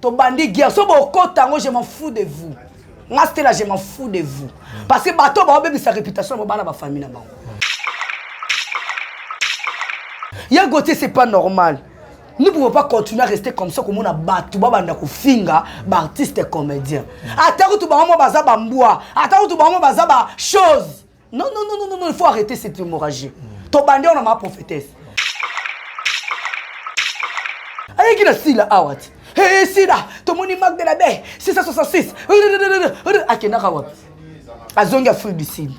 tobandi guerre so bokota yango je m'en fous de vous nga stela je m'en fous de vous mm. parce que bato baobebisa réputation na bobana bafamille na bango ya gote c'est pas normal nous pouvons pas continuer à rester comme ça komona bato babanda kofinga baartiste comédien mm. ata kutu bango mo baza bambwa ata kutu bango mo baza bachose Non, non, non, non, non, il faut arrêter cette hémorragie. Mm. Ton bandé, on a ma prophétesse. Aïe, qui a sila, awat. Ah, Hé, sila, ton moni mag de la baie, 666. Akenaka wap. Azongi Afrique du Sud.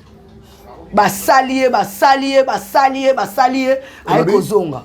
Basali ye, basali ye, basali ye, basali ye. Aïe, kozonga.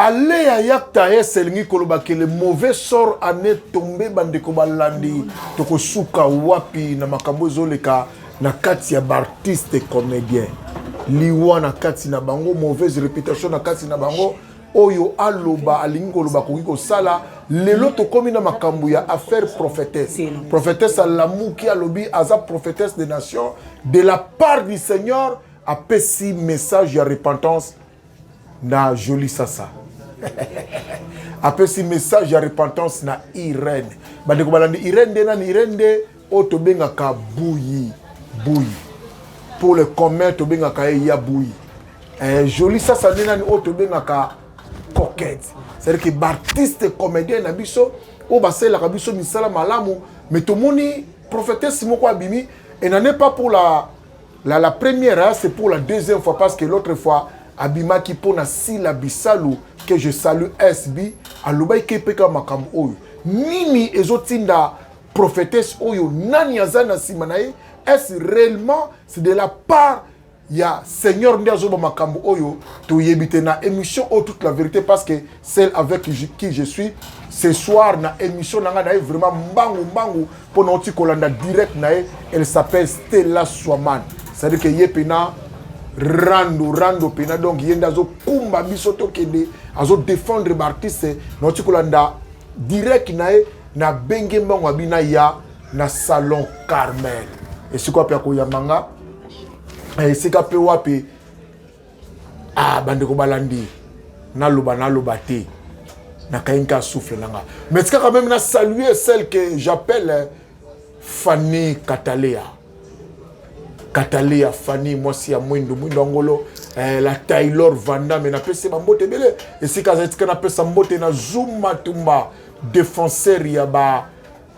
ale ya yakta es elingi koloba ke le mauvais sort ane tombe bandeko balandi tokosuka wapi na makambo ezoleka na kati ya baartiste comédien liwa na kati na bango mauvaise réputation na kati na bango oyo aloba alingi koloba akoki kosala lelo tokomi na makambo ya affaire prophétesse prophétesse alamuki alobi aza prophétesse de nation de la part du seigneur apesi message ya repentance na joli sasa apesi message ya repentance na irene bandeko balandi irene nde nani irene nde Oyo tobengaka buyi buyi pour le commun tobengaka ye ya buyi eh, joli sasa nde nani oyo tobengaka coquette c'est-à-dire que baartiste comédien na biso oyo basalelaka biso misala malamu mais tomoni prophétesse moko abimi et n'en est pas pour la, la, la première hein, c'est pour la deuxième fois parce que l'autre fois abimaki mpo na sila bisalu que je salue sb alobaki ke mpe kaka makambo oyo nini ezotinda prophetesse oyo nani aza na nsima na ye est-ce réellement c'est de la part ya seigneur nde azoba makambo oyo toyebi te na émission oyo toute la vérité parce que celle avec qui je suis ce soir na émission na ngai na ye vraiment mbangu mbangu mpo na oti kolanda direct na ye elle s'appelle stella swaman c'est-à-dire que ye mpena rando rando mpena donc ye nde azokumba biso tokende azodefendre baartiste na oti kolanda direct na ye Na benge mbango abi na ya na salon Carmel. Esika wapi akoyamba nga eh, esika mpe wapi ah, bandeko balandi naloba naloba te nakayi nka souffle na nga mais tika quand même na saluer celle que j'appelle eh, fanny katalea katalea fanny mwasi ya mwindo mwindo angolo eh, la taylor vandame napesi ye bambote ebele esika azali tika napesa mbote na zuma tumba defenseur ya ba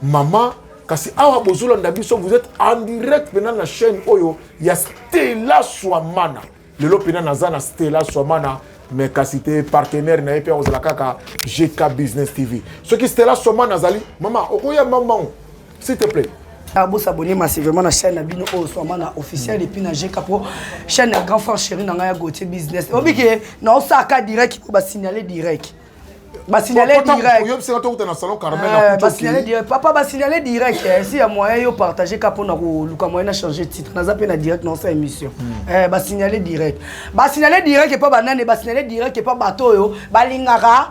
mama kasi awa bozolanda biso vous êtes en direct mpena na chaîne oyo ya stela swamana lelo mpena naza na stela swamana mais kasi te partenaire na ye mpe akozala kaka gk business tv soki stela swamana azali mama okoya mamango s'il te plaît ah, bosabone massivement na chaîne na bino oyo swama na officiel epuis na jeka mpo chaîne ya grand frère chéri na ngai ya gautier business obike naosaka direct mpo basignale direct basignale directpapa basignale direct eh, si ya moyen yo partage ka mpona koluka moyen na change titre naza mpe na direct na osa émission hmm. eh, basignale direct basignale direct epa banani basignale direct epa bato oyo balingaka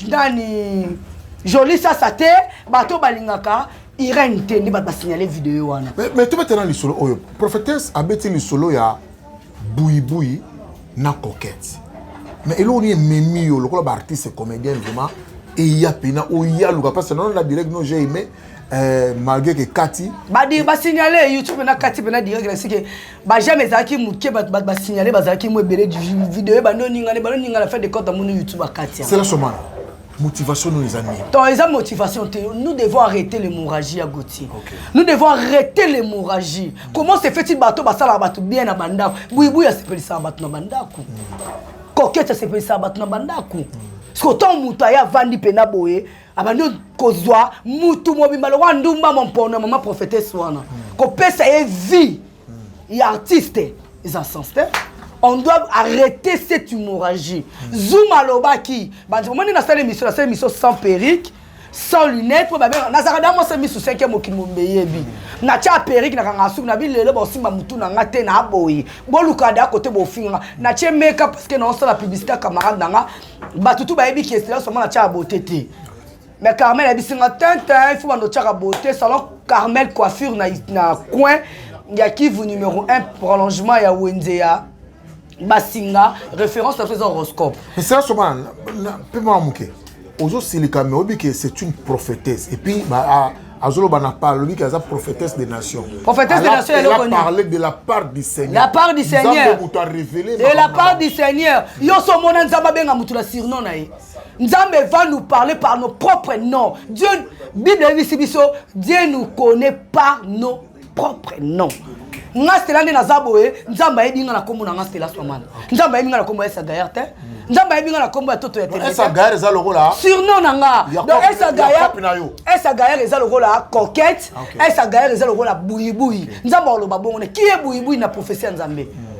nani joli sasa te bato balingaka irene te nde bato basignale video wana mais tobetana lisolo oyo prophétesse abeti lisolo ya buibui na coquette mais eloko nini ememi yo lokola baartiste comédien vraiment eya mpena oya luka mpasi nano na direct no j'ai aimé euh, malgré que kati badi basignale youtube na kati mpena direct nasi ke bajame ezalaki moke bato bato basignale bazalaki mo ebele video ebandi oningana ebandi oningana fin de compte amoni youtube akati sela somana Motivation nous eza nini Donc eza motivation te. Nous devons arrêter l'hémorragie à Gauthier. Okay. Nous devons arrêter l'hémorragie. Mm. Comment se fait-il bateau basala bateau bien na bandako? Buibu ya sepelisa bateau na bandako. Mm. Coquette sepelisa bateau na bandako. Mm. Siko tant mutu aya vandi pena boye abandi kozwa mutu mobimba lokola ndumba mompono ya mama prophetesse wana mm. kopesa ye vie Il y a artiste, ils en sont on doit arrêter cette hémorragie. Mm. Zoom alobaki, bandi omoni na sala émission, na sala émission sans perruque, sans lunettes, po babe nazaka da mwasa misu 5e mokili mombeyebi. Na tia perruque na kanga suku na bi lelo ba osimba mutu na nga te na boyi. Boluka da côté bofinga. Na tia make up parce que na osala publicité camarade na nga. Batutu bayebi que c'est là seulement na tia beauté te. mais carmel ayebisi nga tintin fo bando otyaka beauté salon carmel coiffure na, na coin ya kivu numéro 1 prolongement ya wenze ya basinga référence na biso eza horoscope mais sela soba mpe mwa moke ozosilika mais oyebi ke c'est une prophétesse et puis ba, a, azoloba na part alobi ke aza prophétesse des nations prophétesse des nations eloko nini parler de la part du seigneur la part du seigneur moto a révélé de la part du seigneur yo so mona nzambe abenga moto na surnom na ye Nzambe va nous parler par nos propres noms. Dieu, Bible ebisi biso, Dieu nous connaît par nos propres noms. nga stela nde naza boye nzambe ayebi nga na kombo na nga stela swamana nzambe ayebi nga na kombo ya esagayer te nzambe ayebi nga na kombo ya toto ya teleesagayer eza lokola surnom na nga donc esagayer esagayer eza lokola coquette esagayer eza lokola buyibuyi nzambe akoloba bongo ne kiye buyibuyi na profesi ya nzambe mm.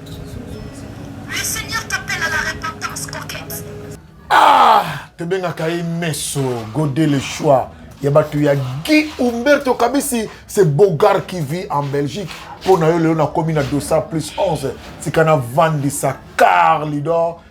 Ah, tobengaka ye meso gode le choix ya bato ya guy umberto kabisi se bogar qui vit en belgique mpo na yo lelo nakomi na dosa plus 11 tika navandisa carlidor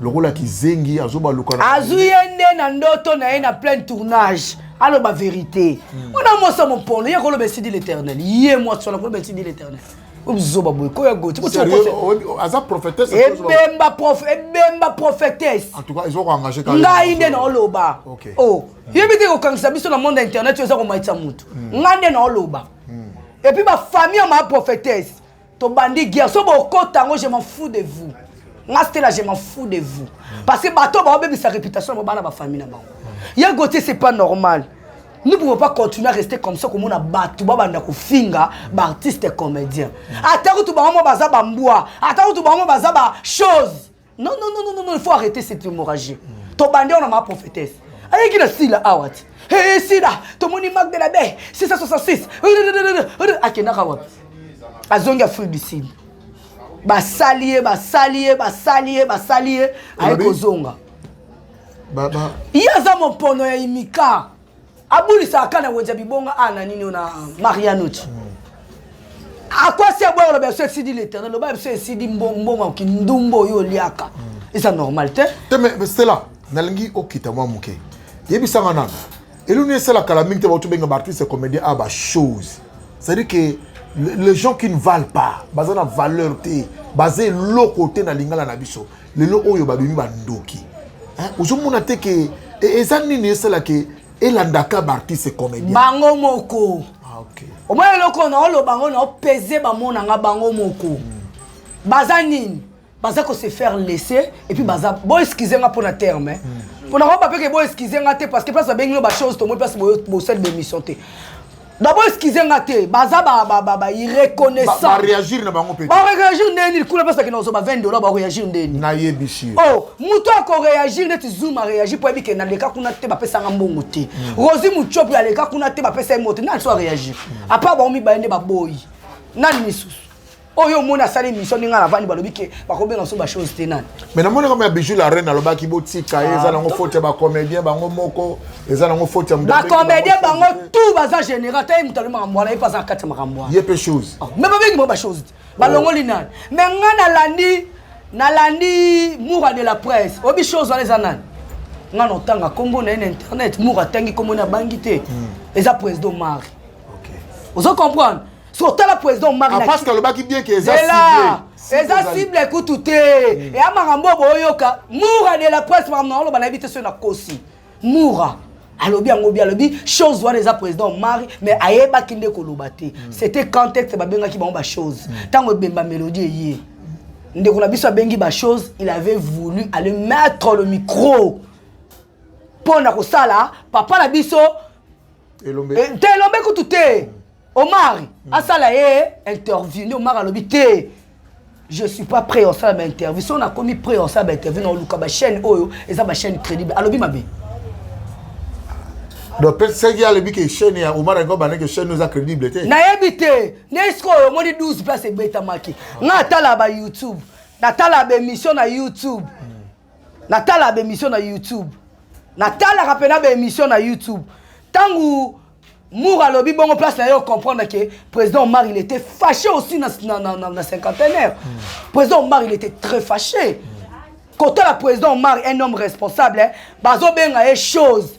lokola kizengi azobaluka azwi ye nde na ndoto na ye na plein tournage aloba verité hmm. wana mwasi ya mopolo ye koloba esidi l'éternel ye mwasi wana koloba esidi l'éternel ozoba boye koya goti aza prophétesse ebemba prof ebemba prophétesse en tout cas ezo engager quand ngai nde na oloba oh yebi te kokangisa biso na monde internet oza komaitisa mutu hmm. ngai nde na oloba hmm. et puis ba famille ma prophétesse tobandi guerre so bokota yango je m'en fous de vous nga stela je m'en fous de vous parce que bato baobebisa réputation yango bana bafamille na bango ya gotier c'est pas normal nous pouvons pas continuer à rester comme ça komona bato babanda kofinga baartiste comédien ata kutu bango mo baza bambwa ata kutu bango mo baza bachose Non, non, non, non, non, il faut arrêter cette hémorragie. Mm. Ton bandit, on a ma prophétesse. Aïe, qui a sila, awat. Ah, Hé, eh, sila, ton moni mag de la baie, 666. Akena kawap. Azongi Afrique du Sud. basali ye basali ye basali ye basali ye aye kozonga ye aza mopono ya imika abulisaka kaka na wenze ya bibonga a na nini oyo na marianuti akwasi aboya koloba biso esidi leternel loba biso esidi mbongo ya kindumba oyo oliaka eza normal te te me stela nalingi okita mwa moke yebisanga nano eluni esala kala mingi te bautu benga baartiste comédien a bachose c'est-à-dire que les gens qui ne valent pas baza na valeur te baza eloko te na lingala na biso lelo oyo babebi bandoki ozomona te ke e, eza nini esalaka elandaka baartiste comédien bango moko ah, okay. omona eloko naoloba yango naopese bamonanga bango moko mm. baza nini baza ko se faire laisser et puis baza bo excuse nga pona terme hein. Hmm. pona ko ba pe ke bo excuse nga te parce que place ba bengi no ba chose to moi place bo bo sel be mission te D'abord excusez nga te, baza ba ba ba ba irreconnaissant. Ba réagir na bango peut-être. Ba réagir ndeni kuna pesa kina ozo ba 20 dollars ba réagir ndeni. Na ye bishi. Oh, muto ako réagir neti Zoom a réagir pour que na leka kuna te ba pesa nga mbongo te. Hmm. Rosie Muchop ya leka kuna te ba pesa ye moto. Nani so réagir? Hmm. À part ba omi ba yende ba boyi. Nani misusu? oyo omoni asali émission ndenge navandi balobi ke bakobenga biso bachose te nani mais namoni kama ya bijou la reine alobaki botika ye eza ah, nango faute ya bacomédien bango moko eza nango faute ya bacomédien bango tout baza général ata ye moto alobi makambo wana ye mpe aza na kati ya makambo wana ye mpe chose ah, mais babengi bango bachose te balongoli oh. nani mais nga nalandi nalandi moura de la presse oyebi chose wana eza nani nga notanga nkombo na ye na internet moura atangi nkombo na bangi te hmm. eza président mari ozo comprendre so tala président omarpasque ah, alobaki bien ke eza eza cible ekutu te hmm. eya makambo oyo boyoka mura de la presse makambo na oloba nayebi te soki nakosi mura alobi yango bi alobi chose wana eza président omari mais ayebaki nde koloba te hmm. c'était contexte babengaki bango bachose hmm. ntango ebemba mélodie eye ndeko na biso abengi bachose il avait voulu aller mettre le micro mpo na kosala papa na biso elombe eh, te elombe kutu te omari hmm. asala ye interview nde omari alobi te je suis pas prêt osala bainterview so nakomi prêt osala bainterview na oluka bachaîne oyo eza bachaîne crédible alobi mabe donc peut seki alobi ke chaîne ya omar yango banda ke chaîne eza crédible te nayebi te nde sikoyo omoni 12 place ebetamaki nga atala ba youtube natala baémission na youtube natala ba emission na youtube natalaka mpena ba emission na youtube ntango mour alobi bongo place na ye ocomprendre ke président omar il était fâché aussi na, na, na, na, na cinquantenaire mm. président omar il était très fâché mm. kotala président omar un homme responsable eh, bazobenga ye chose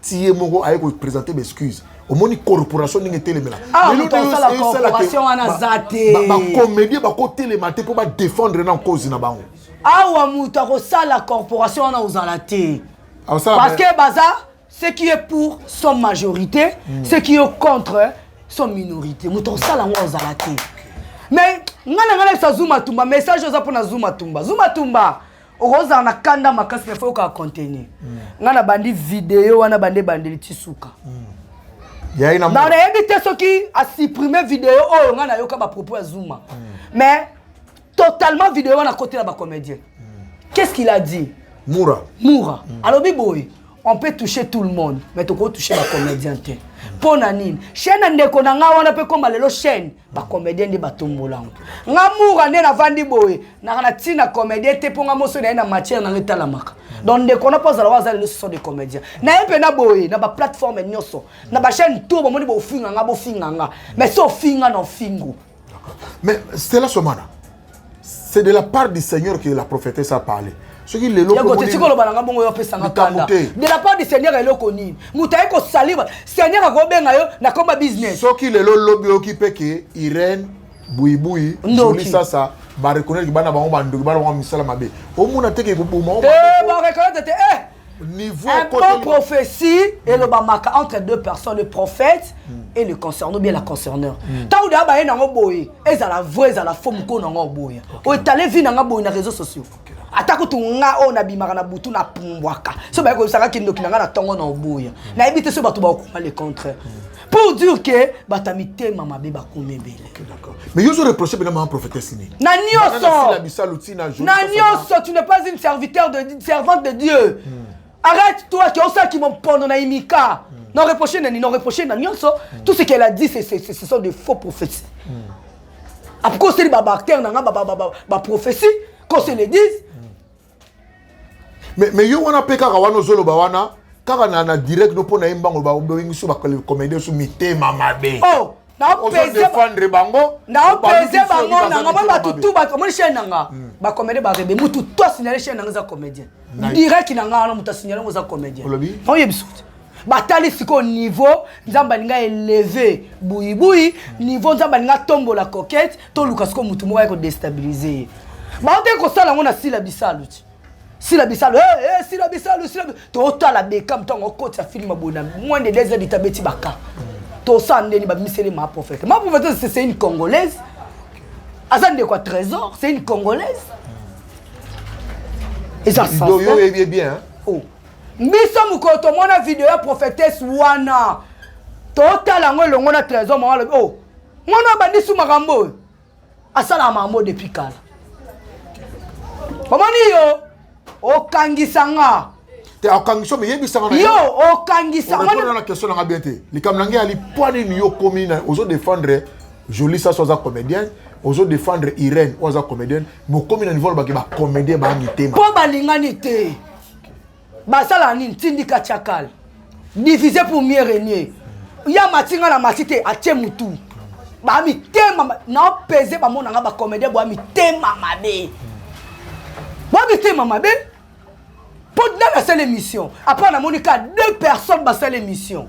ti ye moko aye kopresente baexcuse omoni corporation ndenge etelemela bacomédie bakotelema te mpo badefendre na nkozi na bango awa moto akosala corporation wana ozala te parce que baza ce qui est pour son majorité mm. ce qui est contre son minorité moto akosala yango ozala te mais ngai na ngai nayebisa zuma tumba message oza mpo na zuma tumba zuma tumba okozala na kanda makasi mais faut yoka contenu mm. ngai nabandi video wana bande ebandeli ti suka mm. na nayebi te soki asupprime video oyo ngai nayoka bapropos ya zuma mm. mais totalement video wana akotela bacomédien qu'est ce qu'il a dit mura mura alobi boye on peut toucher tout le monde mais tokoki toucher bacomédien te mpo na nini chaîne ya ndeko na ngai wana mpe ekoma lelo chaîne bacomédien nde batombola yango nga mura nde navandi boye naka na ntina comédien te mpo nga moso na ye na matière na ngai etalamaka donc ndeko na mpo azala wa aza lelo ce sont des comédiens na ye mpe na boye na baplateforme nyonso na bachaîne tour bomoni bofinga nga bofinga nga mais so ofinga na ofingo Mais Stella Somana, c'est de la part du Seigneur que la prophétesse a parlé. soki lelo tiko loba nanga bongo yo apesanga kanda de la part du seigneur eloko nini moto aye kosaliba seigneur akobenga yo na komba business soki lelo lobi oyoki mpe ke irene buibui joli sasa bareconnaître bana bango bandoki bana bango misala mabe omona te ke koboma bareconnaître te eh niveau un bon prophétie mm. elobamaka entre deux personnes le prophète mm. et le concerneur ou bien la concerneur ntango mm. deya baye nango boye ezala vrai ezala fo mokolo nango oboya oetale vi nanga boye na réseau sociaux ata kutu nga oyo nabimaka na butu napumbwaka so baye koyebisaka kindoki na nga na ntongo na oboya nayebi te so bato bakokoma le contraire pour dire que bato ya mitema mabe bakomi ebele mais yo ozo reproche mpena mama prophétesse nini na nyonso na nyonso tu n'es pas une serviteur de servante de dieu hmm. arrête toi ke osalaki mompono na imika hmm. na reproche nani na reproche na nyonso hmm. tout ce qu'elle a dit ce sont de faux prophéties après oseli babactère na nga baprophétie qu'on se le dise me, me yo wana mpe kaka wana ozoloba wana kaka na, na direct no mpo na ye mbango babengiso bakomedien so mitema mabe oh! naopesefandre bango naopese bango nanga moni bato tu bato omoni chaine nanga hmm. bacomédie barebe mutu to asignale chaine nanga eza comédien direct nanga wana moto asignale yango eza comédien oyebisi batali sikoyo niveau nzambe alingi eleve buyibuyi niveau nzambe alingi atombola coquete toluka sikoyo motu moko aye kodestabilize ye baotaki kosala yango na sila bisalu ti sila bisalu hey, hey, sila bisalu sila totala bekam ntango okotisa filme boye na moins de deux heures dita beti baka tosala ndeni babimiseli ma prophète ma prophète c'est une congolaise aza ndeko ya trésor c'est une congolaise eza yo oyebi bien oh. Biso mokolo tomona video ya prophetesse wana totala yango elongo na trésor mama alobi o oh, mwana abandisi makambo oyo asalaka makambo depuis kala omoni yo okangisa nga te okangisa omi yebisa nga yo okangisa nga na question nanga bien te likambo na ngai ali mpo nini yo okomi na ozo défendre jolie saso aza comédienne ozo défendre irène oyo aza comédienne bokomi na niveau lobaki bacomédien baangi te mpo balingani te basala nini tindika chakal divise pour mieux régner ya matinga na masi te atie mutu bamitema naopese bamonanga bacomédien bwa mitema mabe bwa mitema mabe mpo nani asala émission apres namoni ka deux personnes basala émission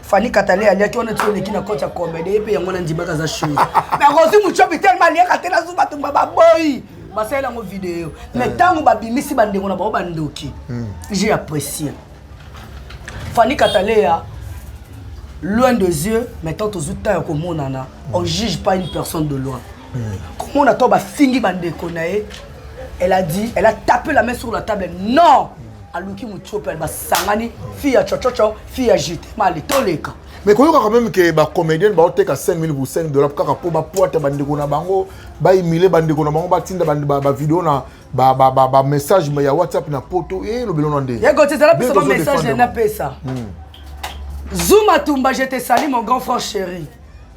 Fally Katale aliaki wana ti oleki na cote ya comedy mpe yango nandimaka aza show mais akozwi mucobi telema aliaka te nazu bato ba baboyi basalela yango video mais eh. ntango babimisi bandeko na bango bandoki hmm. j'ai apprécié Fally Kataleya loin des yeux mais tant tozwi temps ya komonana on juge pas une personne de loin komona to bafingi bandeko na ye elle a dit elle a tapé la main sur la table non aluki mutiope basangani fille ya chochocho fille ya jete mali toleka mais koyoka quand même ke bacomédienne baoteka 5000 pour 5 dollar kaka mpo bapuata bandeko na bango baimile bandeko na bango batinda bavideo na bamessage ya whatsapp na poto e lobelo na nde yekotezala biso bamessage na napesa hmm. zuma tumba je te sali mon grand frère chéri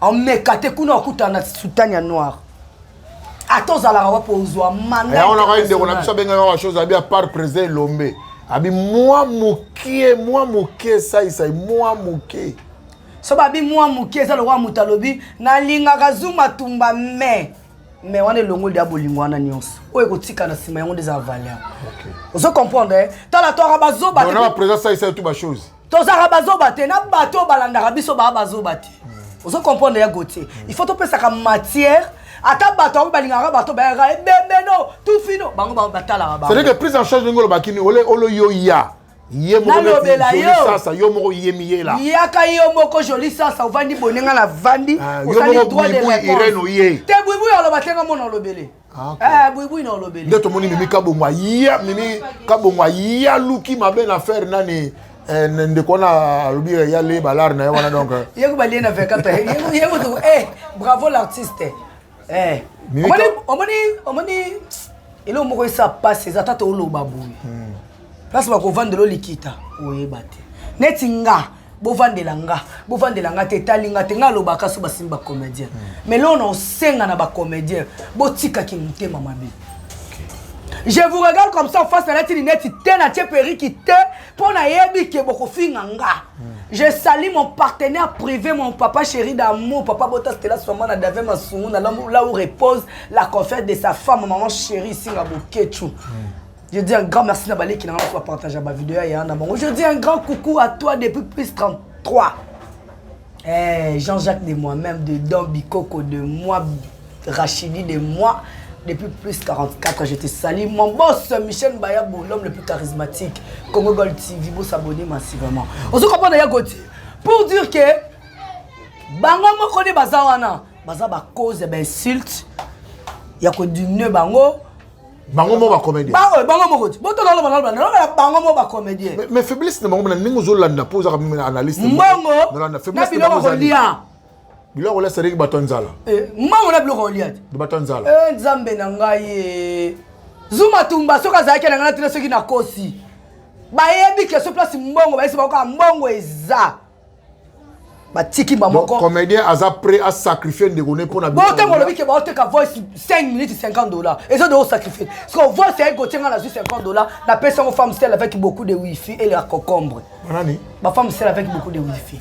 omeka te kuna okutana na sutani ya noir ata ozalaka wapo ozwa mandayango nakai ndeko na biso abengaka wa chose abi apart président elombe abi mwa mokie mwa mokie esaisai mwa mokie so babi mwa mokie eza lokola moto alobi nalingaka zuma tumba me me wana elongoli ya bolingo wana nyonso oyo ekotika na nsima yango nde eza valeur ozo comprendre eh? tala twaka bazoba président saisai tu bachose tozalaka bazoba te na bato oyo balandaka biso baa bazoba te hmm. ozo comprendre ya gautier hmm. il faut topesaka matière ata bato yango balingaka bato bayaka ebembeno eh, tufino bango bango batalaka bango c'est-à-dire que prise en charge ndenge olobaki ni ole olo yo ya ye moko nalobela yosasa yo moko yemiyela yaka yo moko joli sasa ovandi bonenga na vandi ah, osali droit de réponse te buibui aloba te nga mona olobele Ah, ah, nde tomoni mimi kabongo aya mimi kabongo aya luki mabe na faire nani eh, ndeko wana alobi ya le balare na ye wana donc eh. yeko balie na 24 eh, yeko tuku eh bravo l'artiste eh omoni omoni omoni eloko moko esa pasi eza tata oloba boye hmm. place bakovandela olikita oyeba te neti nga bovandela nga bovandela nga te etali nga te nga alobaka so basimi bacomédien hmm. mais lona osenga na bacomédien botikaki motema mabe je vous regarde comme ça face nalati lineti te natie periki te mpo nayebi ke bokofinga nga hmm. je sali mon partenaire privé mon papa chéri d'amour papa bota stela soma na dave masungu na là où repose la confère de sa femme maman chéri singa boketshu mm. Je dis un grand merci na baleki na ngai partager ba vidéo ya yana bango. Je dis un grand coucou à toi depuis plus 33. Eh Jean-Jacques de moi-même de Don Bikoko de moi Rachidi de moi depuis plus 44 je te salue mon boss Michel Bayabo l'homme le plus charismatique Congo Gold TV vous s'abonner massivement. On se comprend d'ailleurs Gauthier pour dire que bango moko nde baza wana baza bacause ya bainsulte ya kodimine bango bango moko ba comédien bango bango moko ti boto lolo balolo na loba bango moko ba comédien mais faiblesse na bango na ndenge ozo landa po oza comme analyste mbongo na faiblesse na bango lia biloko lia sadeki bato nzala eh, mbongo na biloko lia ti bato nzala eh nzambe na ngai eh. zuma tumba soki azalaki na ngai na tina soki nakosi bayebi ke so place mbongo bayesi bango kaka mbongo eza batiki bamoko comédien aza prêt a sacrifier ndeko ne mpo na bo ntango olobi ke baoteka voice 5 minutes 50 dollars eza de osacrifier siko voice yaki kotie ngai nazwi 50 dollars napesi yango femme sel avec beaucoup de wifi et la cocombre banani bafemme sel avec beaucoup de wifi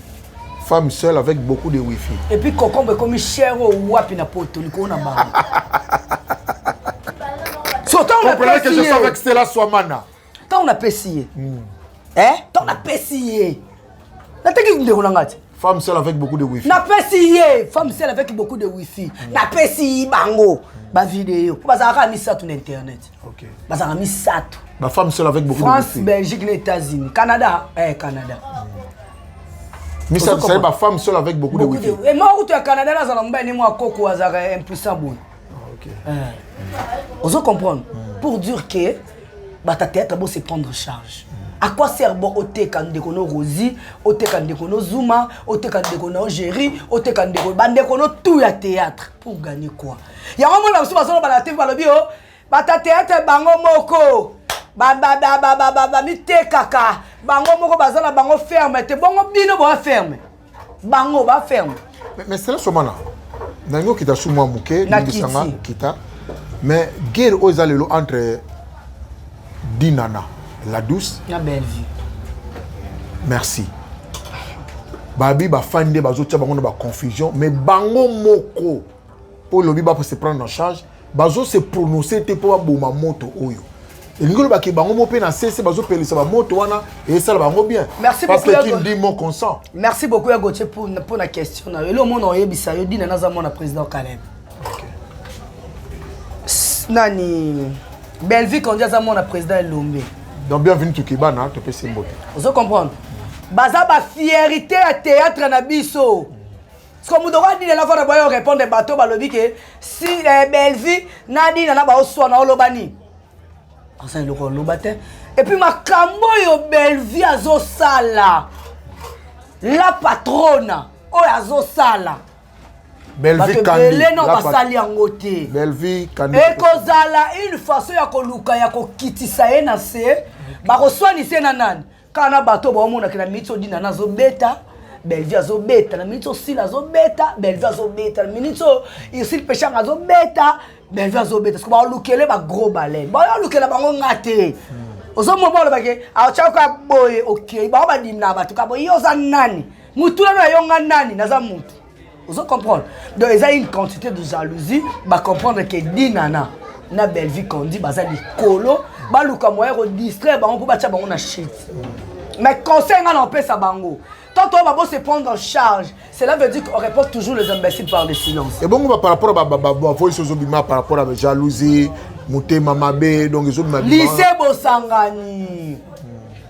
femme seule avec beaucoup de wifi et puis cocombre ekomi cher oyo oh, wapi na poto likolo na bango sotango que je suis avec stela swamana ntango napesi ye hmm. eh, ntango napesi ye nateki ndeko na ngai te femme seule avec beaucoup de wifi napesi ye femme seule avec beaucoup de wifi hmm. napesi bango bavideo mpo bazalaka ya misato na internet bazalaka misato bafemme seule avec beaucoup france belgique na états-unis canada eh, canada hmm. misato sali bafemme seule avec beaucoup de wifi eh, moko kutu ya canada nazala mobali ne mwa koko azalaka impuissant boye Ah, okay. eh. ozo comprendre mm. pour dire que bata théâtre bo se prendre charge mm. à quoi sert bo oteka ndeko no rosi oteka ndeko no zuma oteka ndeko no géri oteka ndeko bandeko no tout ya théâtre pour gagner quoi yango mona mosusu bazoloba na tv balobi o bata théâtre bango moko bamitekaka bango moko baza na bango ferme te bongo bino boa ferme bango ba ferme mais, mais cela somana nangi okita su mwa moke limbisanga okita mais guerre oyo eza lelo entre dinana la douce na bellevue merci babi bafandi nde bazotya bango na baconfusion mais bango moko oyo olobi ba se prendre en charge bazo se prononcer te mpo baboma moto oyo elingi olobaki bango mo mpe na sese bazopelisa bamoto wana esala bango bien merci parce que qui dit mon consent merci beaucoup ya gautier pour pour la question na elo mona oyebisa yo dina naza mwana président Caleb okay. nani Bellevue Kondi aza mwana président Elombe donc bienvenue to Kibana topesi mbote ozo comprendre baza ba fierité ya théâtre na biso siko moto okoki adina nafana boya yo répondre bato balobi ke si eh, bellevue nadina na baoswana oloba nini aza eloko oloba te epuis makambo oyo bellevue azosala la patrona oyo azosala belvino basali yango te ekozala une façon ya koluka ya kokitisa ye na se bakoswanise na nani kaka na bato oyo baomonaka na miniti odina na azobeta bellevue azobeta na miniti osila azobeta bellevue azobeta na miniti oyo irsile peshanga azobeta bellevue azobeta soki baolukele bagros baleine baolukela bango nga te hmm. ozomona baolobake aotyaka boye okei bango badimina bato ka boye yo oza nani motuna na yo nga nani naza motu ozo comprendre donc eza une quantité de jalousie ba comprendre que dinana na bellevue condi baza likolo baluka moyen kodistraire bango mpo batya bango na shit mais conseil ngai naopesa bango tant oyo babo se prendre en charge cela veut dire qu'on répond toujours les imbéciles par le silence ebongo ba par rapport bavoice ozobima par rapport ya jalousie motema mabe donc ezobima lycée bosangani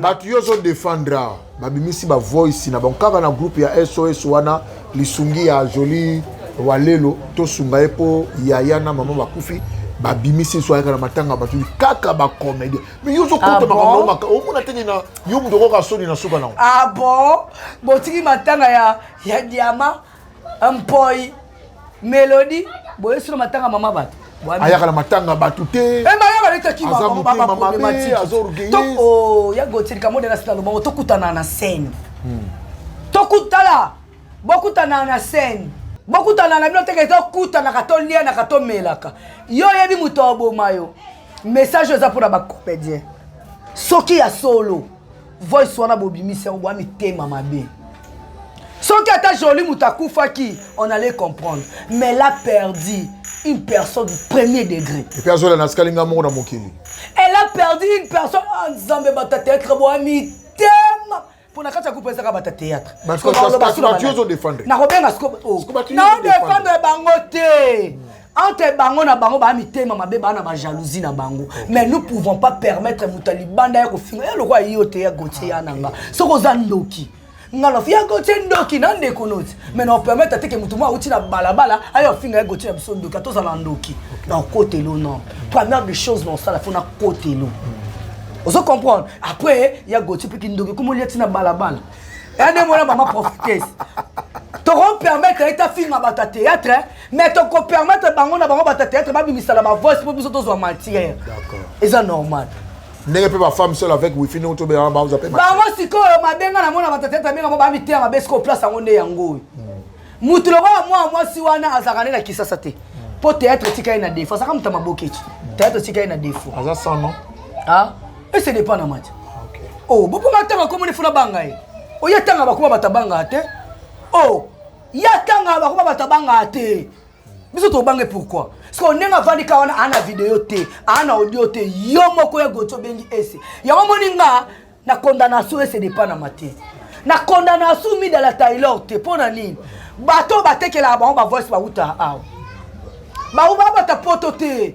bato yo ozo defendre awa babimisi bavoice na bango kaka na groupe ya sos wana lisungi ya joli walelo tosunga ye mpo yaya na mama bakufi babimisi nso ayaka na matanga bato kaka bacomédien mais yo ozokota ah makambo maka omona teke na yo moto okoka soni na suka nango ah bon botiki matanga ya diama mpoi melodi boyesi no matanga mama bato ayaka na matanga ya bato te ya gotilika mode na sina lobango tokutana na scène hmm. tokutala bokutana na scène bokutana na bino teke tokutanaka tolianaka tomelaka yo oyebi moto aboma yo message oyo eza mpona bacomédien soki ya solo voice wana bobimisi yango bwa mitema mabe soki ata joli moto akufaki on allait comprendre mais la perdu une personne du premier degré epe azola na sikali ngai moko na mokili elle a perdu une personne ah, nzambe batateatre bwa mitema mpo na kati ya kupe ezaka bata théâtre nakobenga siko oh. naodefendre bango te entre bango na bango baa mitema mabe baa na bajalousie na bango okay. mais nous pouvons pas permettre moto ya libanda ya kofinga ye lokola yo te ya gotie ya nanga soki oza ndoki nga na fiya gotie ndoki na ndeko noti mais na opermettre ate ke moto mwa auti na balabala ayo afinga ye gotie na biso ndoki ata ozala ndoki na okotelo non première des choses na osala fo na kotelo ozo comprendre après ya gotie mpe kindoki komoli ya ti na balabala ane mwana mama prophetese tokopermettre ye tafinga bato ya théâtre mais toko permettre bango na bango bata théâtre babimisa na ba voice mpo biso tozwa matière eza normal ndenge mpe bafemme seul avec wifi ndenge tobelaka baoza mpe bango sikoyo mabenga na mona bata théâtre ndenge yango bamiteya mabe sikoyo place yango nde yango oyo motu hmm. lokola mwana mwasi wana azalaka nde na kisasa te mpo hmm. théâtre etika ye na défaut azalaka moto ya maboketi hmm. théâtre etika ye na défaut aza sans non ah ese dépend na mati o oh, boponga ntango akomoni funa banga ye oye ntango bakoma batabanga te o oh, ye atangaka bakoma bato abangaka te biso tobange pourquoi siko ndenge avandi ka wana aa na video te aa na audio te yo moko ya goti obengi ese yango moni nga na condamnation ese depanama te na condamnation mida la taylor te mpo na nini bato oyo batekelaka bango bavoice bawutaka awa bawubabata poto te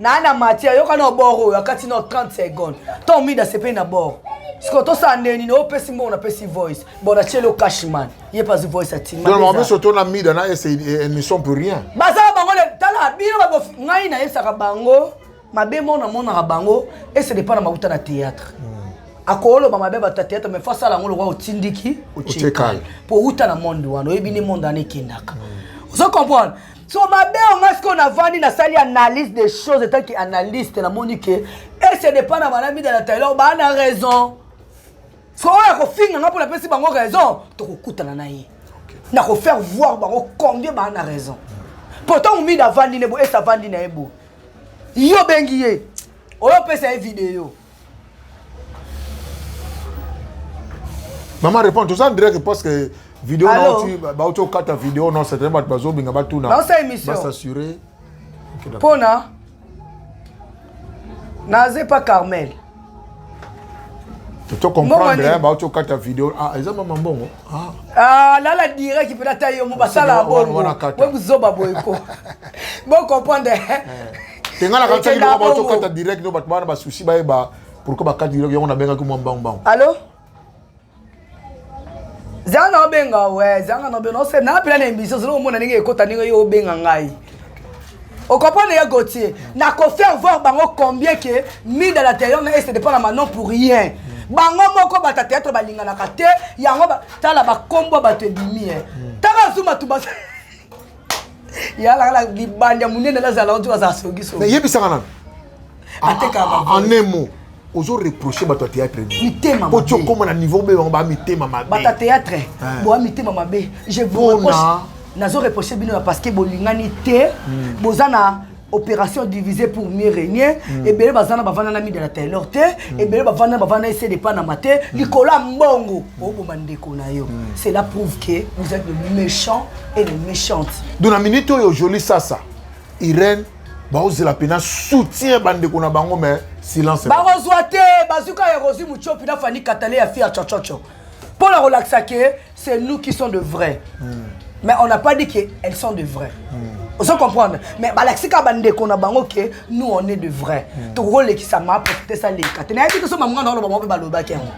na na matière yoka na bord oyo akati na 30 secondes to mida sepeli na bord sikoyo tosala ndenge nini opesi mbongo napesi voice bon natyeli yo cashman ye pasi voice atimamameso to na mida na ese ne sont plus rien basala bango tala bino babo ngai nayebisaka bango mabe moko namonaka bango ese depa na mauta na théâtre hmm. akoloba mabe bato ya théâtre mais fasala yango lokola otindiki otyekali mpo outa na monde wana oyebi nde monde wana ekendaka hmm. ozo comprendre so mabe oyo ngai sikoyo navandi nasali analyse des choses etanke analyste namoni ke ese depa na banamida na taylor baa na raison so oyo akofinga ngai mpo napesi bango raison tokokutana na ye nakofaire voir bango combien baa na raison mpo ntango mida avandi ne bo ese avandi na ye bo yo obengi ye oyo opesa ye video Maman répond toza en direct parce que vidéo nauti bauti okata vidéo non certainement bato bazobinga batuna basassurer mpona naza epa carmel to comprendre bauti okata vidéo ah eza mama mbongo Ah. ah, lala direct mpena ta yo mo basala bongo we buzoba boye ko bocomprendre eh. tengalaka ntaki loko baotokata direct no bato bana basusi bayeba pourkoi bakati direct yango nabengaki mwa mbangumbangu allo zanga obenga we zanga nobenga ose napela na emission zolo omona ndenge ekota ndenge yo obenga ngai Au comprendre les Gauthier, n'a qu'au faire voir bango combien que mine à l'intérieur mais c'est dépend à Manon pour rien. bango moko bata théâtre balinganaka te yango tala bakombo bato ebimi e tala zuma tu bas yalakala libanda monene nazala otu azala sokiso yebisaka nano atekaka en un mot ozo reproche bato ya théâtre mitema po tiokoma na niveau be bango ba mitema mabe bato ya théâtre eh. boa mitema mabe je vous reproche nazo reproche bino ya parce que bolingani te hmm. boza na opération divisée pour mieux régner mm. ebele baza na bavanda na mida na taylor te mm. ebele bavanda na bavanda ese depanama te mm. likolo ya mbongo oboma ndeko na yo mm. cela prouve que vous êtes le méchant et le méchante donc na minute oyo joli sasa irene baozela mpena soutien bandeko na bango mais silence bakozwa te bazwi kaka ya rosi muchopi na fani katale ya fia chochocho mpo na kolakisa ke c'est nous qui sont de vrai mm. mais on n'a pas dit que elles sont de vrai mm. ozo comprendre mais balakisi kaka bandeko na bango ke nous on est de vrai mm. tokolekisa ma profite sa leka te nayebi te so mamanga na oloba bango mpe balobaki yango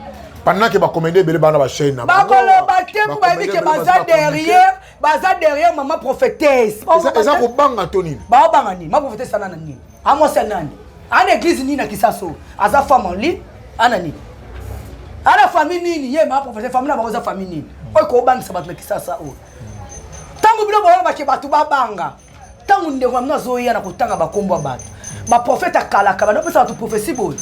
pendant ke bakomedi ebele bana bachaine na bakoloba te mpo bayebi ke baza derrière baza derrière mama prophétesse eza kobanga to nini baobanga nini ma prophétesse ana na nini amwasi ya nani ana église nini na kisaso aza femme en ligne ana nini ana famille nini ye ma prophétesse famille na bango eza famille nini oyo kobangisa bato na kisasa oyo ntango bino boyona bake bato babanga ntango ndeko na bino azoya na kotanga bakombo ya bato baprofete akalaka bana opesa bato profesi boye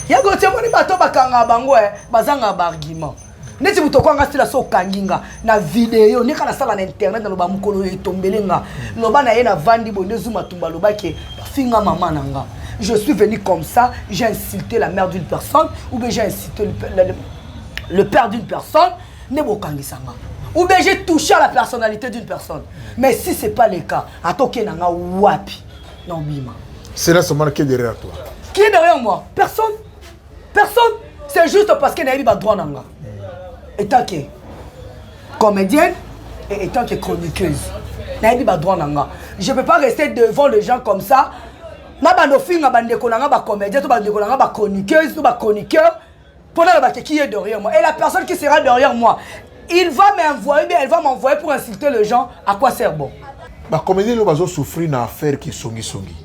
ya gotie moni bato bakangaka bango e eh, bazangaka baargument neti moto okwanga stila so okangi nga na video ndeka nasala na internet naloba mokolo oyo etombele nga loba na ye navandi boye nde zuma tumba alobaki bafinga mama na nga je suis venu comme ça j'ai insulté la mère d'une personne ou bien j'ai insulté le, le, le père d'une personne nde bokangisa nga ou bien j'ai touché à la personnalité d'une personne mais si c'est pas le cas ata okei na nga wapi na obima c'est là seulement qui est derrière toi qui est derrière moi personne personne c'est juste parce que nayebi badroit na nga étant que comédienne et étant que chroniqueuse nayebi badroit na nga je peux pas rester devant les gens comme ça nabanda ofinga bandeko na nga bacomédien to bandeko na nga bachroniqueuse to bachroniqueur Pour la baquet qui est derrière moi et la personne qui sera derrière moi, il va m'envoyer, bien elle va m'envoyer pour insulter les gens. À quoi sert bon Bah comédien là bazo souffrir na affaire qui songi songi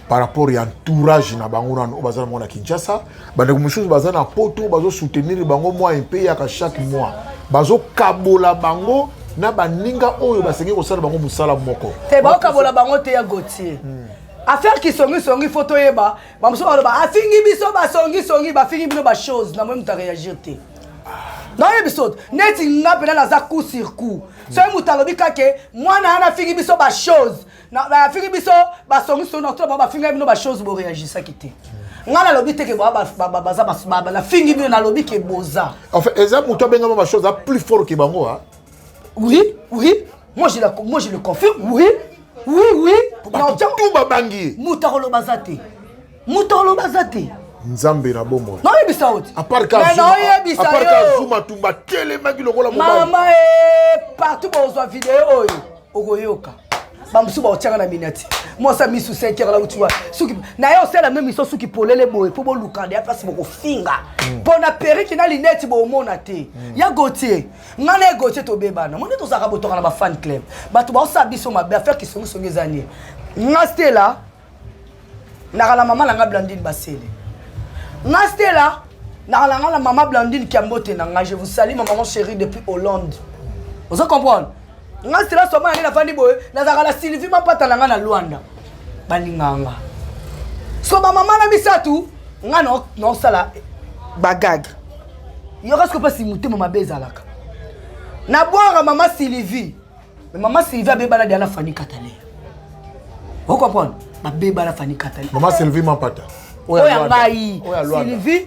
par rapport à entourage na bango na oyo baza na Kinshasa, bah donc monsieur baza na poto bazo soutenir bango moi un pays à chaque mois. Bazo kabola bango na baninga oyo basengi kosala bango mosala moko. Te bazo kabola bango te ya Gauthier. Hmm. affaire kisongisongi fo toyeba bamosusu baloba afingi biso basongisongi bafingi bino bachose na moi moto areagir te nayebi biso neti nga mpena naza coup sur coup soki moto alobi kake mwana yana afingi biso bachose afingi biso basongisongi na tolaba bafingaki bino bachose boreagisaki te ngai nalobi te ke baza nafingi bino nalobi ke boza enfin eza moto abengama bachose a plus fort ke bango oui oui Moi je, la, moi je le confirme. Oui. Oui, oui. Tout babangi. Mutarolo bazate. Mutarolo bazate. nzambe na bomoi noyebisa oti aparkazuma tumba telemaki lokola mama e partout bozwa video oyo okoyoka bamosusu baotiaka na minati mwasi ya misu senkere nauti wa suki na ye osala meme iso suki polele boye mpo bolukanda ya mpasi bokofinga mpo hmm. na periki na lineti bomona te hmm. ya gotie nga na egotie tobebana moni tozalaka botoka na bafan club bato baosala biso mabe affaire kisongisongi eza nie nga stela naka na mama na nga blandine basele nga stela naka na nga na mama blandine kiambote na nga je vous salue ma maman chérie depuis hollande ozo comprendre nga silence omona nde nafandi boye nazalaka na sylvie mapata na nga na lwanda balingaka nga so bamama na misato nga naosala bagage yoka siko mpasi motema mabe ezalaka na bwanga mama sylvie me mama sylvie abebana dia na fani katale okomprendre babebana fani katale mama sylvie mapata oyo ya ngai sylvie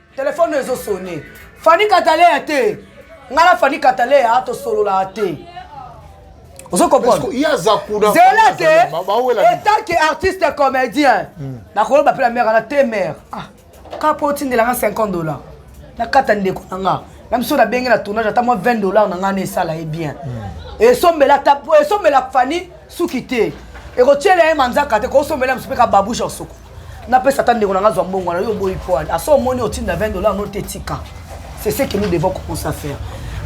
Telephone ezo sonner. Fanny Katalea te. Nga na Fanny Katalea tosololaka te. Ozo comprendre? Il y a Zakuna. Zela te. Etant que artiste et comédien. Hmm. Na kolo ba pela mère na te mère. Ah. Ka po tindela nga 50 dollars. Na kata ndeko na nga. Na biso na benge na tournage ata moi 20 dollars na nga na esala ye bien. Hmm. Et sombela tapo, et sombela Fanny suki te. Et ko tiela ye manzaka te, ko sombela msipeka babouche en soko. Na pesa ta ndeko na nga zwa mbongo na yo boyi poil. Aso omoni otinda 20 dollars no te tika. C'est ce que nous devons commencer à faire.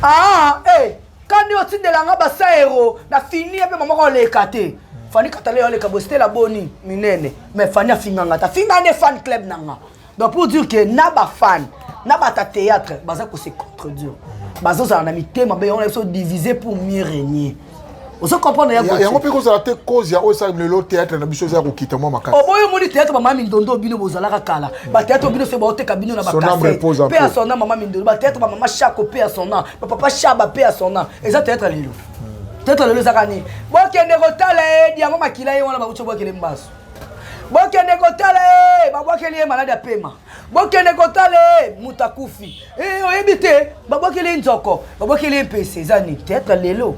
Ah, eh, hey, kandi otindela nga ba saero na fini pe maman ko leka te. Fani katale yo leka bostela boni minene. Mais Fani afinga nga ta finga ne fan club na nga. Donc pour dire que na ba fan, na ba ta théâtre, baza ko se contredire. Bazo za na mitema be on a so diviser pour mieux régner. ozo comprendre ya Gauthier yango mpe kozala te cause ya oyo esalemi lelo théâtre na biso eza ya kokita mwa makasi oboyi omoni théâtre mama mindondo bino bozalaka kala bathéâtre bino soki baoteka bino na bakase pe ya sona mama mindondo bathéâtre bamama shako pe ya sona bapapa shaba pe ya sona eza théâtre lelo hmm. théâtre lelo ezaka nini bokende kotala edi yango makila ye wana bauti obwakele mbasu bokende kotala ye babwakeli ye maladi ya pema bokende kotala ye moto akufi eh, oyebi te babwakeli ye nzoko babwakeli ye mpese eza nini teatre lelo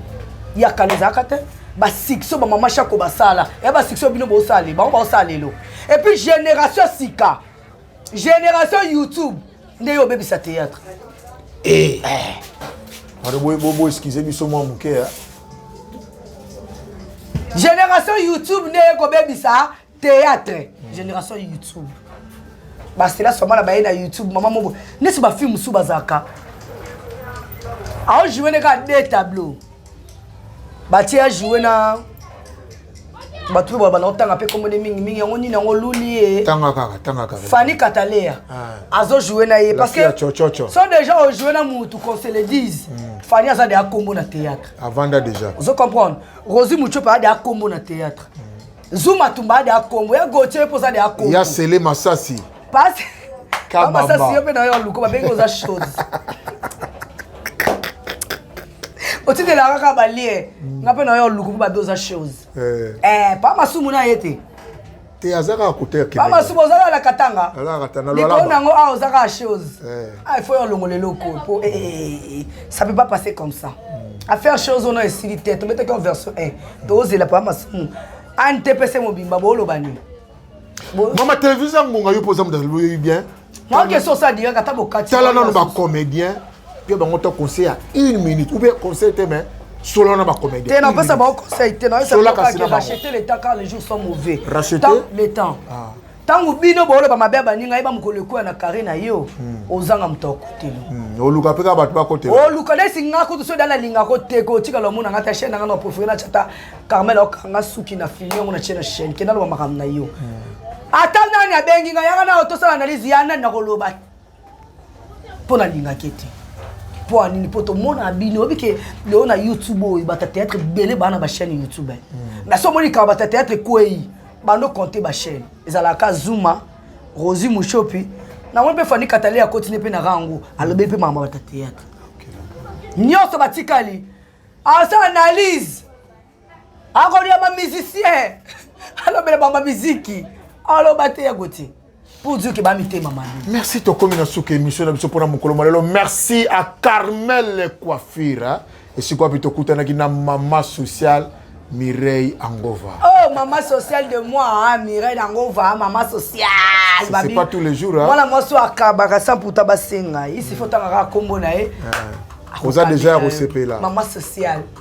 ya kala ezalaka te basuccès bamama shako basala ya basuccès bino bosala bango baosala lelo epuis génération sika génération youtube nde yo obebisa théâtre eh. eh. bobo eskize biso mwa moke génération youtube nde ekobebisa théâtre génération youtube basela soma na baye na youtube mama moko neti bafilme mosusu bazalaka aojoue ne kaka de tableau batie ajoue na bato oyo babanda kotanga mpe kombo nde mingi mingi yango nini yango luli ye fani katalea ah. azojoue na ye parce que so déjà ojoue na motu qu'on se le dise hmm. fani aza de akombo na théâtre avanda déjà ozo comprendre rosi muchope aza de akombo na théâtre mm. Zuma tumba de Congo, ya Gauthier poza de Congo. Ya Sele Masasi. Pas Kabamba. Masasi yo pe na yo luko ba bengo za chose. otindelaka kaka balie mm. nga mpe na yo luku mpo babe oza chose eh. eh, pa masumu na ye te te aza kaka kotepa masumu oza kaka na katanga likolo na yango awa ah, oza kaka chose eh. ah, il faut yo olongola eloko mpo ça peut pas passer comme ça mm. affaire chose ono esili te tobetaki en version 1 tozela pa masumu antepese mobimba boloba nini mama televise ya ngonga yo mpo oza mdalo oyebi bien mwakesi osadiyaka ata bokati tala nano bacomédien mpe bango to conseil ya une minute ou bien conseil te mais solo na bacomédien te napesa bango conseil te nasolakasirachete le temps car le jour sont mauvais racheter le temps ah. ntango bino booloba mabe ya baninga yeba mokolo ekoya na kare na yo hmm. ozanga moto ya kotelo hmm. oluka mpe kaka bato bakotela oluka nesi nga kutu soki dala alingaka oteka otikala omona nga ta chaine nanga na profile na chata carmel akanga suki na fini yango na tie na chaine kenda loba makambo na yo hmm. ata nani abengi nga yanga na otosala analyse ya nani nakoloba mpo nalingaki ete mpo nini mpo tomonaka bino oyebi ke lelo na youtube oyo bata théâtre ebele baa na bachaîne youtube hmm. na so omoni kaka bata théâtre ekwei bando compte bachaîne ezalaka zuma rosi mushopi namoni mpe fani katale akoti nde mpe na rango alobi mpe mama bata théâtre nyonso batikali asala analyse akolia ba musicien alobela ba miziki aloba te ya gotie pour dire que ba mitema mabe merci tokomi na suka émission na biso mpona mokolo malelo merci à carmel coiffure esika wapi tokutanaki na mama sociale Mireille Angova. Oh, maman sociale de moi, hein, Mireille Angova, hein, maman sociale. C'est pas tous les jours. Hein. Voilà, moi, je suis à Kabaka, sans pour Tabasenga. Ici, il faut que tu aies un combo. Vous avez déjà recépé là. Maman sociale.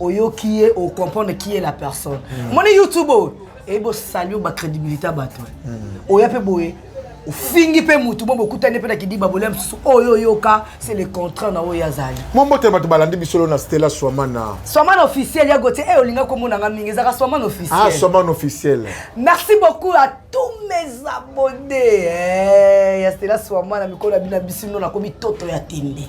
oyoki ye o comprendre qui est la personne mm. moni youtube oyo eyebi osali yo bacrédibilité ya bato mm. oya mpe boye ofingi mpe motu bo bokutani mpe na kidiba bolia mosusu oyo oyoka c'est le contraire na oyo azali mombote bato balandi bisolo na stela swamana swamana officiel ya gotie e eh, olinga komonanga mingi ezaka swamana officiel ah, swamana officiel merci beaucoup à tous mes abonnés eh, ya stela swamana mikolo ya bino ya bisino nakomi toto ya tembe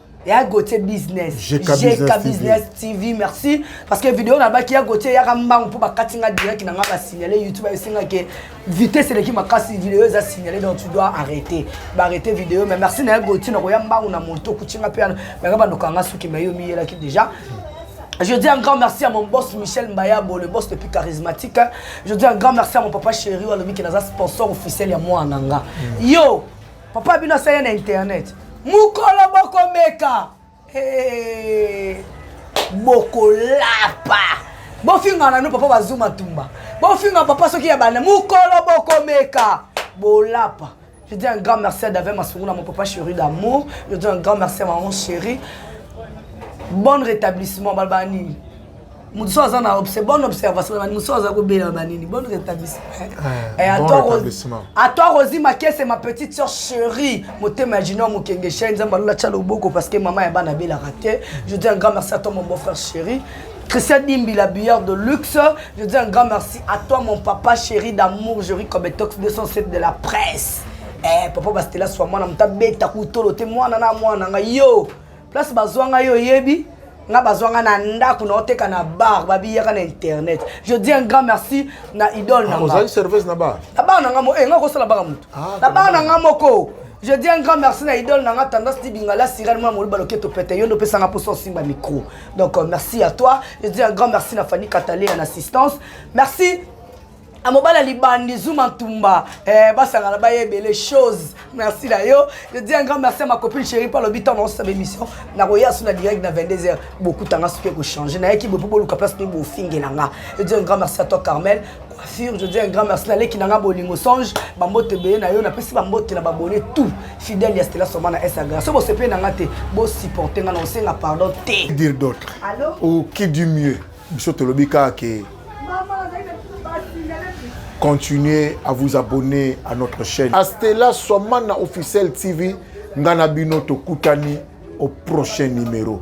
ya gautier business jeka business tv merci parce que video nabaki ya gautier eyaka mbangu mpo bakati nga direct na nga basignale youtube ayosinga ke vitesse eleki makasi video eza signale donc tu dois arrêter baarrete video mais merci na ya gautier nakoya mbangu na moto okutinga mpe yanga bandoka yanga soki mai yo miyelaki déjà Je dis un grand merci à mon boss Michel Mbayabo, le boss le plus charismatique. Je dis un grand merci à mon papa chéri, qui est sponsor officiel à moi en Anga. Mm. Yo, Papa bino asali na internet. Mukolo bokomeka. Hey. Bokolapa. Bofinga na no papa bazuma tumba. Bofinga papa soki ya bana mukolo bokomeka. Bolapa. Je dis un grand merci à David Masourouna, mon papa chéri d'amour. Je dis un grand merci à maman chérie. Bon rétablissement, Balbani. moto so aza na obse bonne observation na bani moto so aza kobela na banini bonne rétablissement eh, eh, ato akozi makese ma petite sœur chérie motema ya junior mokenge chaine nzambe alola tya loboko parce que mama ya bana abelaka te je dis un grand merci à toi mon beau frère chéri Christian Dimbi, la bière de luxe. Je dis un grand merci à toi, mon papa chéri d'amour, Jerry Kobetox 207 de la presse. Eh, papa Bastela, sois moi, n'a mtabeta, koutolo, t'es moi, nana, moi, nana, yo. place bazwa ngai oyebi nga bazwa ngai na ndako naoteka na bar babiyaka na internet je dis un grand merci na idole na ah, ozali service na bar na bar na nga moko eh, nga kosala baka motu ah, na bar na nga moko je dis un grand merci na idole na nga tendance ti bingala sirene mwana moluba loketo pete yo nde opesanga mposa osimba micro donc euh, merci à toi je dis un grand merci na fanny katale en assistance merci na mobali ya libandi zuma ntumba eh, basangana baye ebele chose merci na yo je dis un grand merci à ma copine chérie mpo alobi ntango naosala émission nakoya so na direct na 22 heures bokutanga soki ekochange nayaki boye mpo boluka place mpe bofingela nga je dis un grand merci à toi carmel coiffure je dis un grand merci naleki na nga bolingo songe bambote ebele na yo napesi bambote na babone tout fidèle ya stela soma na instagram so bosepeli na nga te bosupporte nga na osenga pardon te dire d'autre ou qui du mieux biso tolobi kaka ke continuez à vous abonner à notre chaîne astela swamana officiel tv ngai na bino tokutani au prochain numéro